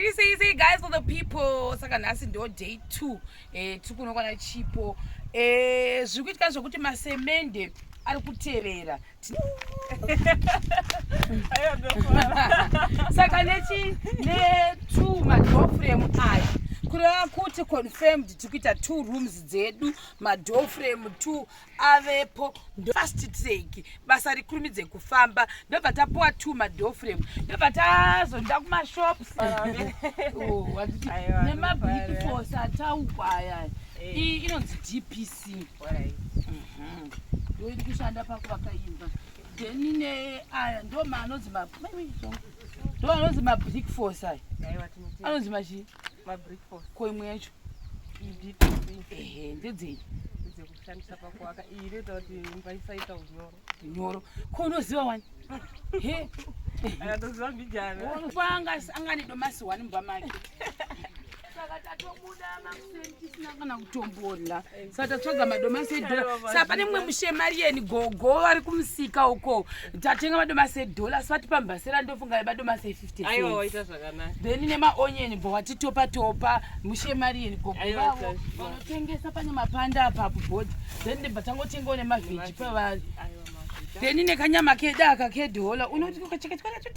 Say, say guys for the people saka nhasi ndo day two eh, tiri kunokwana chipo eh, zviri kuitika zvekuti masemende ari kuterera saka nechi netu madoframe aya kureva kuti confirmed tiri kuita two rooms dzedu madoframe two avepo fast take basa rikurumidze kufamba ndobva tapuwa two madoor frame ndobva tazonda kumashops oh, nemabig force ataukwa aya eh. inonzi dpc mhm. ndoiri kushanda pakuvaka imba then ne aya ndo maanonzi ndo anonzi mabrick force aya anonzi machii koimwe yacho ehe ndedzei kushandisa pakuwaka iyi inoita kuti imba isaita unyoro unyoro ko unoziva wani he anatoziva mbijana panga angani domasi wani mumba make saka tatobuda makuseni tisina kana kutombola saka tatsvaga madomasi edhola saka pane mumwe mushemari yeni gogo vari kumusika uko tatenga madomasi edhola asi vatipa mbasera ndofunga madomasi e50 then nemaonyeni bho watitopa topa mushemariyeni gogo vavo vanotengesa pane mapanda apa kubhodhi then ndibva tangotengawo nemavheji pavari then nekanyama kedu aka kedhola unoti ukachekachikanacho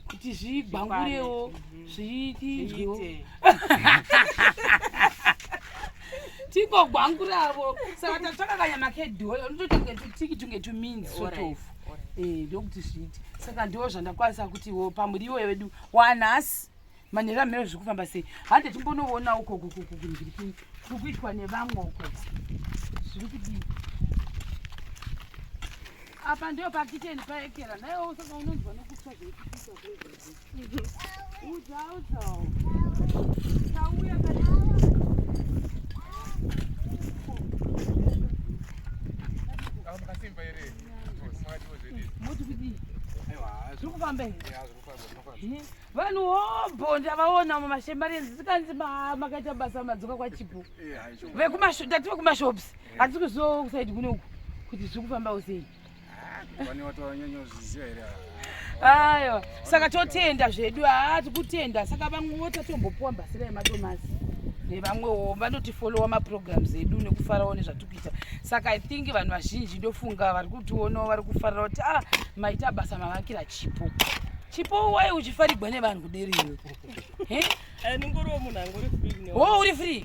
kuti zvigwangurewo zviitizwewo tingogwanguravo saka tatsvaka kanyama kedhola unotoita kunge tutiki tunge tuminzi sotofu eh, ndokuti zviite saka ndiwo zvandakwanisa kuti wo pamuriwo wedu wanhasi manhero amhero zviri kufamba sei hande timbonoona ukoko koko kunzviri kuri kuitwa nevamwe ukoko zviri kudii apa ndiyo pakiteni paekera naiwo saka unonzwa nokutsva zveikuita vanhu hobho ndavaona mumashembarenzi tikanzi makaita basa madzoka kwachipo tati vekumashops hatisi kuzosaidi kunoku kuti zviri kufambawo sei aiwa saka totenda zvedu haa tikutenda saka vamwewo tatombopuwa mbasira yemadomasi nevamwewo vanotifolowa maprograms edu nekufarawo nezvatikuita saka i think vanhu vazhinji ndofunga vari kutionawo vari kufarira kuti ah maita basa mavakira chipo chipo wai uchifarigwa nevanhu kuderiyo eh? eh, uri free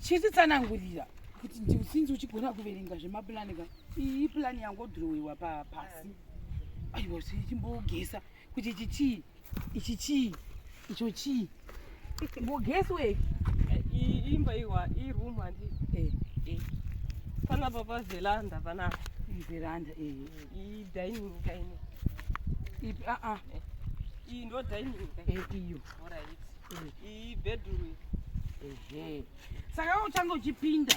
chititsanangurira kuti ndiusinzi uchigona kuverenga zvemapulani ka iyi plan yangodhirowiwa pasi aiwa chimbogesa kuti ichi chii ichi chii icho chii mbogesi we eh, imba iwa iroom handi eh. eh. panapa paveranda panapa veranda iyi dining kaine ipi aa ah, ah. iyi ndo dining iyo iyi bedroom ehe saka uchange uchipinda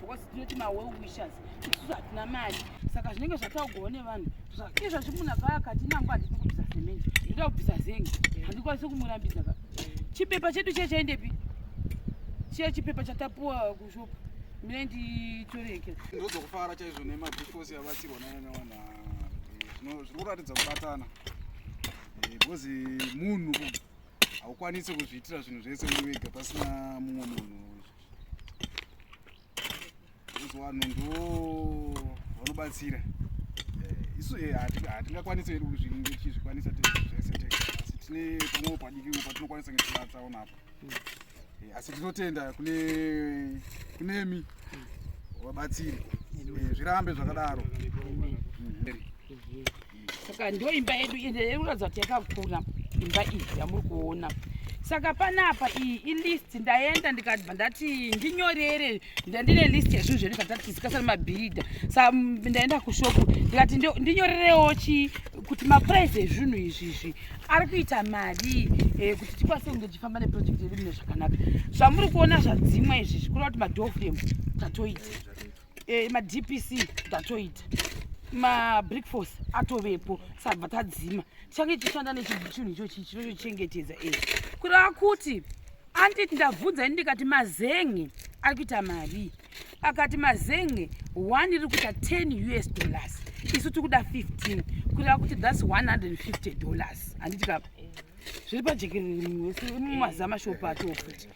because tinoti mawell wishers isusu hatina mari saka zvinenge zvataugwawo nevanhu zvakinge zvazvimuna paya kati nangu handidi kubvisa semende ndoda kubvisa zenge handikwanisi kumurambidza ka chipepa chedu chiye chaendepi chiye chipepa chatapuwa kushopa mine nditoreke ndozokufara chaizvo nemabikosi abatsirwa nanyawana zviri kuratidza kubatana eh, because munhu haukwanisi kuzviitira zvinhu zvese uri wega pasina mumwe munhu vanhu ndo vanobatsira eh, isu eh, hatingakwanisi hedu kuzvikwanisa zvese tega asi tine pamwewo padikiwo patinokwanisa ngetivatsaona apo hmm. eh, asi tinotenda kune kunemi vabatsiri zvirambe zvakadaro hmm. saka ndo imba yedu ende inoratidza kuti yakakura imba iyi yamuri kuona saka panapa iyi ilist ndaenda ndikabva ndati ndinyorere ndandine list yezvinhu zvedu zvatatisikasana mabhiridha sa ndaenda kushopu ndikati ndinyorerewo chi kuti maprice ezvinhu izvi izvi ari kuita mari eh, kuti tikwanise kunge tichifamba neproject yedu mune zvakanaka zvamuri kuona zvadzimwa izvi zvikura kuti madofrem tatoita eh, madpc tatoita mabrick force atovepo sabva tadzima tichange tichishanda nechichinhu ichochi chinotochengetedza e kureva kuti anditi ndabvunza ini ndikati mazenge ari kuita marii akati mazenge one iri kuita 10 us dollars isu tiri kuda 15 kureva kuti thats 150 dollars handiti kapa zviri pajekerere mumazama shopa atofuti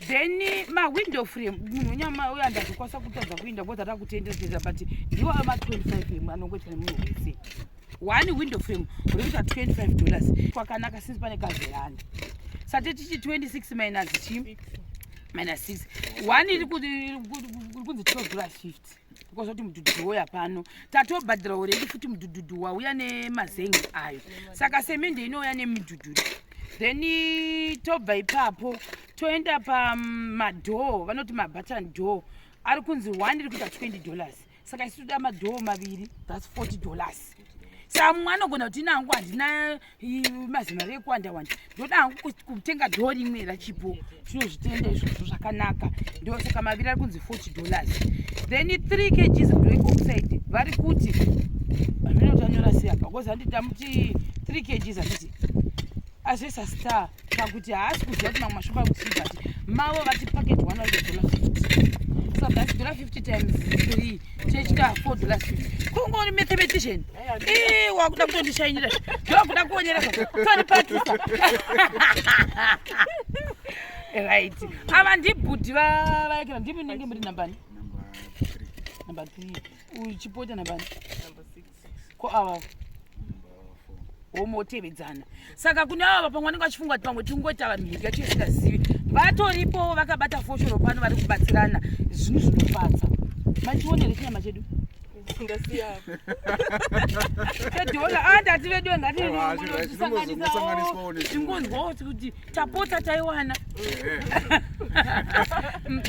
then eh, mawindow frame munhu nyama uyo andazvikwanisa kutadza kuinda bcause ataa kutenderedza but ndiwo ama 25 emu anongoita nemunhu wese one window frame uri kuita 25 dollars kwakanaka since pane kazerani sate tichi 26 minus chi minus 6 one iri kunzi 12 dollars 50 kozoti mudhudhudhu woya pano tatobhadhira uredi futi mudhudhudhu wauya nemazengi ayo saka semende inouya nemudhudhudhu then tobva ipapo toenda pamadhoo mm, vanoti mabatan door ari kunzi one iri kuita 20 dollars saka isu toda madhoo maviri thats 40 dollars samwe anogona kuti inangu handina mazimari ekuwanda wanda ndoda hangu kutenga dhoo rimwe rachipo tinozvitenda izvozvo zvakanaka ndosaka maviri ari kunzi 40 dollars then 3 kgs break oxide vari kuti hazvina kuti anyora sei apa bcause handi tamuti 3 kgs handiti azvesa star pakuti haasi kuziva kuti mamwe mashopa kuti but mavo vati packet 100 dollars 50 so that's dollar 50 times 3 kungori mathematician eh, wakuda kutondishainira ndokuda kuonera tonipatisa right ava ndibhudhi vayakira ndimunenge muri nambani namba three uchipota nambani ko ava womotevedzana saka kune ava pamwe vanenge vachifunga kuti pamwe tingoita vanhu mhiri yacho isingazivi vatoripowo vakabata foshoro pano vari kubatsirana zvinhu zvinofadza machionere chinyama chedu ndativeduwe ngatisanganiswawo tingonzwawo kuti tapota taiwana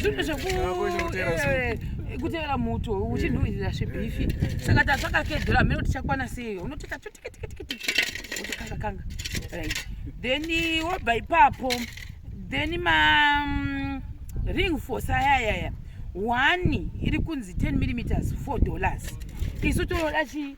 zvinhu zvekutevera eh, muto uchinhuhirira zvebhifi eh, eh, saka tatsvaka kedhora mene kuti chakwana sei unoteka chotikitikitikitiki wotokanga kanga right then wobva ipapo then ma mm, ring force ayayaya one iri kunzi 10 millimeters 4 dollars isu toroda chii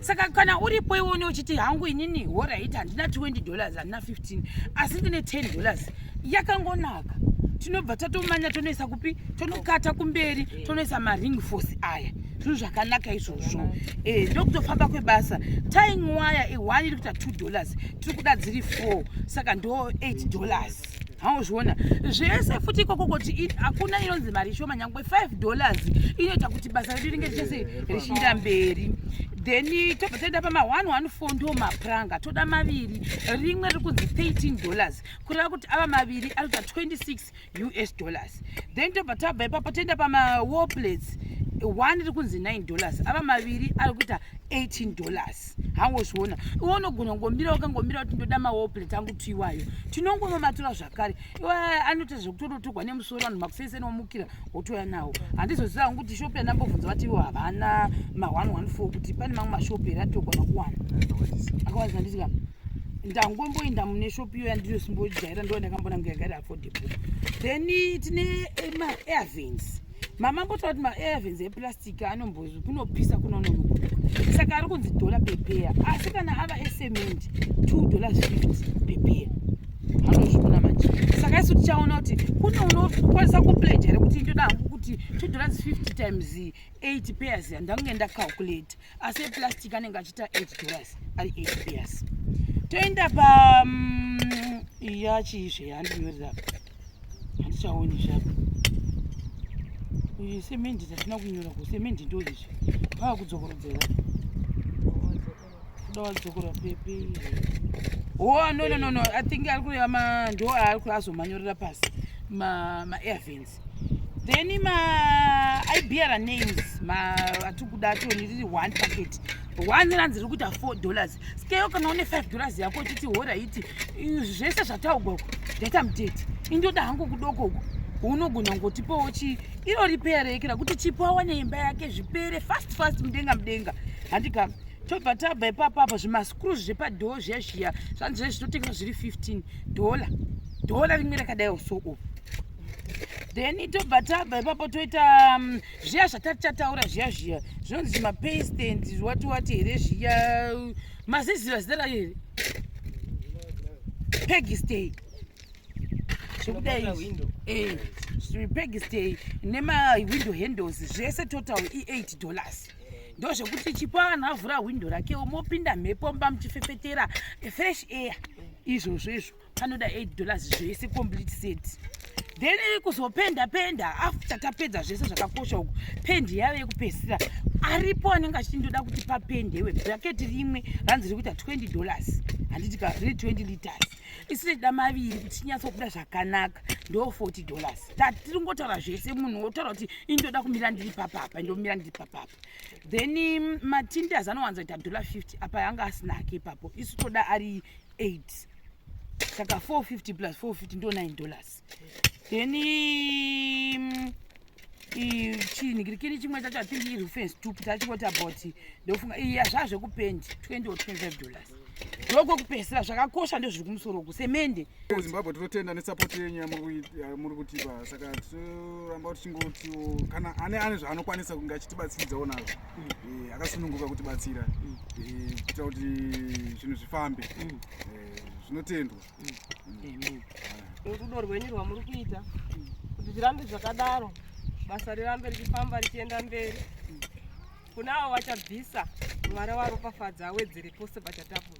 saka kana uripo iwone uchiti hangu inini horit handina 20 dollars handina 15 asi ndine 10 dollars yakangonaka tinobva tatomanya tonoisa kupi tonokata kumberi tonoisa maring force aya zvinhu zvakanaka izvozvo eh, ndokutofamba kwebasa tying waya ihwani iri kuita 2 dollars tiri kuda dziri 4 saka ndo 8 dollars hauzviona zvese futi ikoko kuti hakuna inonzi mari ishoma nyangwe 5 dollars inoita kuti basa redu ringe richese richinda mberi then tobva toenda pama 114 ndo mapuranga toda maviri rimwe riri kunzi 13 dollars kureva kuti ava maviri anoita 26 us dollars then tobva tabva ipapo toenda pama warplates one riri kunzi 9 dollars ava maviri ari kuita 18 dollars maplate hangozviona iwe unogona kungomira ukangomira kuti ndoda mawall plate angu tuiwayo tinongonomatura zvakare iwe anoita zvekutototorwa nemusoro vanhu makusese nomukira wotouya nawo handizoziva hangu kuti shopi yanambobvunza vati ivo havana ma 114 kuti pane mamwe mashopi here atogona kuwana akawanisa handiti ka ndangomboinda mune shopi iyo yandiri simbojaira ndo ndakambona ngayagari affordable then tine eh, ma airvins mama mbotaura kuti maevens eplastic anombozi kunopisa kunononokuda saka ari kunzi dhola pepeya asi kana ava esementi two dollars fifty pepeya anozviona manje saka isu tichaona kuti kune unokwanisa kupledge here kuti ndoda hangu kuti two dollars fifty times eight pairs yandange ndacalculate asi eplastic anenge achiita 8 dollars ari 8 years toenda pa mm, iya chiizve yandinyorera handichaoni zvako uyu semendi tatina kunyora ku semendi ndo izvi pava kudzokorodzera kuda wadzokora pepe o oh, no no no no i think ari kureva ma ndo aari kuri azomanyorera pasi ma ma airvins then ma i bearer names ma atikuda toni riri one packet one ranzi riri kuita four dollars skeyo kana une five dollars yako chiti horaiti zvese zvataugwa uku ndaita mudate indoda hangu kudoko uku unogona kungotipawo chii iro ripere yeke rakuti chipo awane imba yake zvipere fast fast mudenga mudenga handika tobva tabva ipapo apa zvimascru zvepadhoo zviya zviya zvanzi zve zvitotengesa zviri 15 dhola dhola rimwe rakadaiwo so o then tobva tabva ipapo toita um, zviya zvatatichataura zviya zviya zvinonzi mapaste and wati wati here zviya maziziva zita rayo here pegistay zvekudai eh, pegistay nemawindow handles zvese total i8 dollars ndozvekuti chipo anhu avhura hwindo rakewo mopinda mhepo mba muchifefetera fresh air izvozvo izvo anoda 8 dollars zvese complete set then kuzopenda penda after tapedza zvese zvakakosha uku pendi yave yekupedzisira aripo anenge achindoda kuti papendewe bracket rimwe ranzi rikuita 20 dollars handiti ka riri 20 liters isi rechida maviri kuti chinyatsokuda zvakanaka ndo 40 dollars tatiri ngotaura zvese munhu wotaura kuti indoda kumira ndiri papapa ndomira ndiri papapa then mm, matindas anowanzoita dollar 50 apa yanga asinake ipapo isu toda ari 8 saka 450 plus 450 ndo 9 dollars then mm, chini kirikiri chimwe chacho athink iri fence tupu tachikoti about ndofunga iya zvazvekupendi 20 or 25 dollars ndoko kupesera zvakakosha ndozviri kumusoro uku semende zimbabwe tinotenda nesupport yenyu yamuri kutipa saka tinoramba tichingotiwo kana ane ane zvaanokwanisa kunge achitibatsiridzawo nazvo eh, akasununguka kuti batsira mm. eh, kuita kuti zvinhu zvifambe mm. eh, zvinotendwa mm. rudo rwenyu rwamuri kuita kuti zvirambe zvakadaro basa rirambe richifamba richienda mberi kuna avo vachabvisa mwari waropafadza awedzere pose pachatapura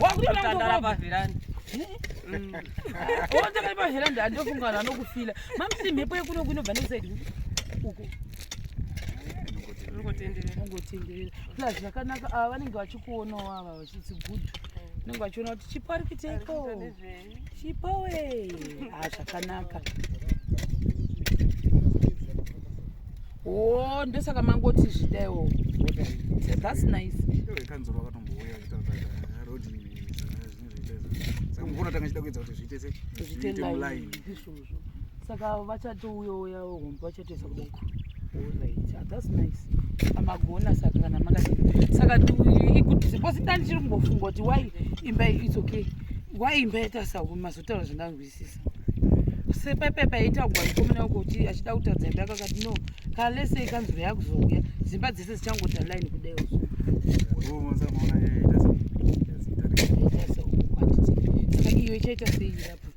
Wakutotandara paveranda. Wotanga paveranda andofunga vanhu vanokufila. Mamsi mhepo yekuno kunobva nesaidi uko. Ungotenderera. Ungotenderera. Plus zvakanaka ava vanenge vachikuonawo ava vachitsigudhu. Unenge vachiona kuti chipo arikiteiko. chipowe ah, zvakanaka oh ndosaka mangoti zvidaiwo that's nice kanzuro wakatombouya road saka mukona tanga chida kuedza kuti zviite se zviite muline izvozvo saka vachatouyoya hombe vachatoisa kudoko that's nice amagona saka kana makati saka because nda ndichiri kumbofunga kuti why imba its okay why imba yaita sahu mazotaura zvandanzwisisa sepepepa yaita kugwaikomena uko kuti achida kutadza imba yakakati no kana lese ikanzuro yakuzouya dzimba dzese dzichangoita line kudai uzo saka iyo ichaita sei irapo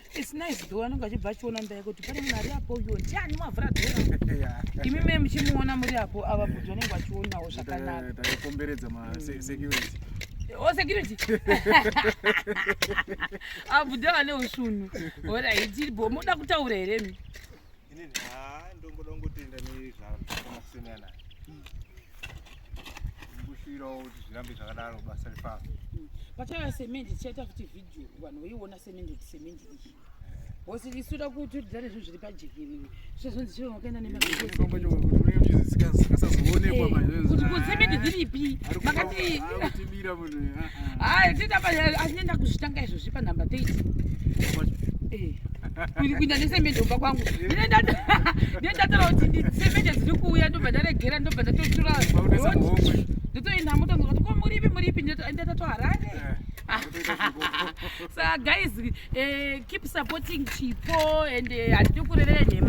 It's nice though anenge achibva achiona ndaya kuti pane munhu ari apo uyo ndiani mavhura dhora imi me muchimuona muri apo ava kuti vanenge vachionawo zvakanaka takakomberedza masecurity o oh, security abuda vane ushunhu horaiti bo moda kutaura here mi Ini ha ndongoda kungotenda nezvamakasiyana naye. Ndikushirawo kuti zvirambe zvakadaro basa rifamba. Pachava semende tichaita futi video vanhu veiona semende kuti semende iyi. Bosi lisuda kuti udare zvinhu zviri pajekerere. Sezvonzi chero wakaenda nemakuti kuti semende dziripi? Makati Hayi tita pa asinenda kuzvitanga izvo zvipa number 30. Eh. Kuri kuinda nesemende kumba kwangu. Ndinenda ndinenda tara kuti ndi semende dziri kuuya ndobva ndaregera ndobva ndatotura. Ndotoenda moto ndikati ko muripi muripi ndinenda tato harare. Eh. Saka guys eh keep supporting Chipo and eh, handikurererenhema.